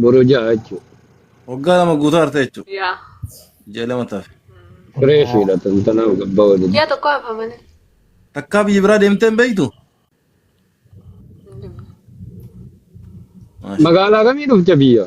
Boru ja'a jechuudha. Waggaa lama guutuu arte jechuudha. Yaa. Ji'a lama tafe. Fireeshiidha tantanaaf gabbaa waliin. Ji'a tokko hafa malee. Takkaa biyya biraa deemtee hin beektu? Maasha. Magaalaa kamii dhufte biyya?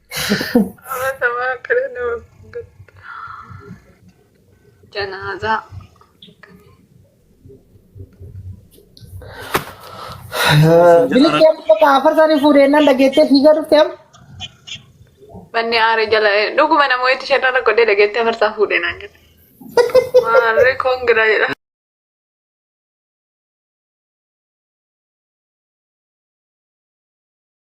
Amatamaa kana nama janaazaa. Biliqii amma bakka afar isaanii fuudhee nan dhageettee fiigaa dhufte amma. Manni aare jala dhuguma namoota itti shan irra godhee dhageettee afarsaa fuudhee naan jedhe. Maarree koongiraa jedha.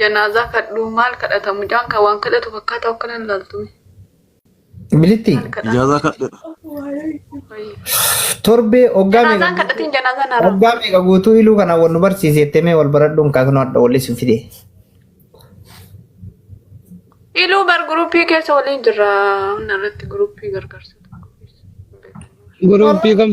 Janaazaa kadhuu maal kadhata mucaan kan waan kadhatu fakkaataa akka nan laaltume. Bilitti Maal kadhata? Ijaazaa kadhedha. Wayii. torbee oggaa Janaazaan meeqa kadhatiin janaazaan haraa. oggaa meeqa guutuu iluu kana wal nu barsiise jettee mee wal baradhuun kaasnoo hadha walli sin fide. Iluu bar guruppii keessa waliin jirra. Inni irratti guruppii gargaarsa. Guruppii kam?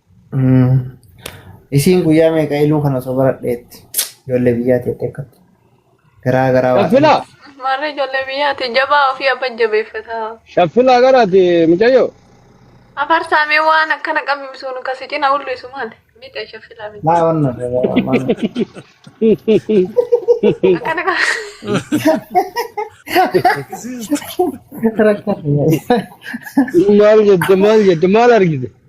Isiin guyyaa meeqa iluu kana osoo baradheetti ijoollee biyyaatti jettee akkatti garaa garaa waa Shaffilaa! Marri ijoollee biyyaati jabaa ofii abba jabeeffata. Shaffilaa garaati mucayyoo. Afarsaa mee waan akkana qabimsuun kasi cina ullisu maali? Mite shaffilaa miti. maa wanna Akkana qaba. Maal jette maal jette maal argite?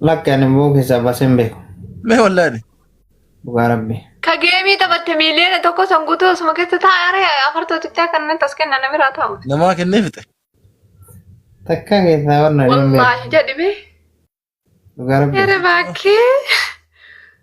Lakki ani immoo keessaa baasee hin beeku. Mee wallaani. Dhugaa rabbi. Ka geemii taphatte miiliyoona tokko san guutuu osuma keessa taa'are afartootichaa kanneen tas kenna namiraa taa'u. Namaa kennee fixe. Takka keessaa warna hin beeku. Wallaahi jedhime. Dhugaa rabbi. Yere baakkee.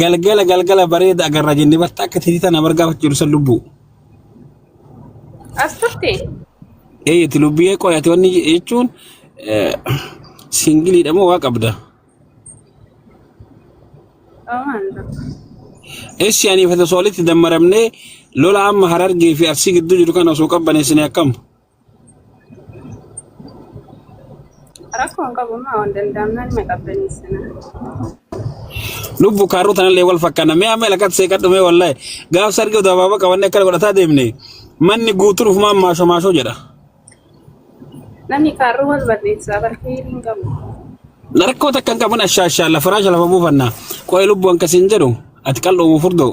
Galgala galgala bareeda agarra jenne barta akka titii tana bargaafatu jiru san lubbuu. As turte? Eeyyati lubbiyee qoyate wanni jechuun singiliidha moo waa qabda? Eessi anii fata soolitti dammaramnee lola amma harargee fi arsii gidduu jiru kana osoo qabbaneessine akkam? Rakkoo hin qabu maa waan danda'amnaan ni qabbaneessina. Lubbu kaaruu tanallee wal fakkaana. Mee amma ilakatti seeqadhu mee wallahi. Gaaf sargi utuu abaaboo qabannee akkana godhataa deemne manni guutuun ufumaan maashoo maashoo jedha. Namni kaarruu wal barreessaa barkeerii hin qabu. Rakkoo takka hin qabun ashaashaa lafa raasha lafa buufanna. Qo'ee lubbu akkasiin jedhu ati qal'oo furdoo.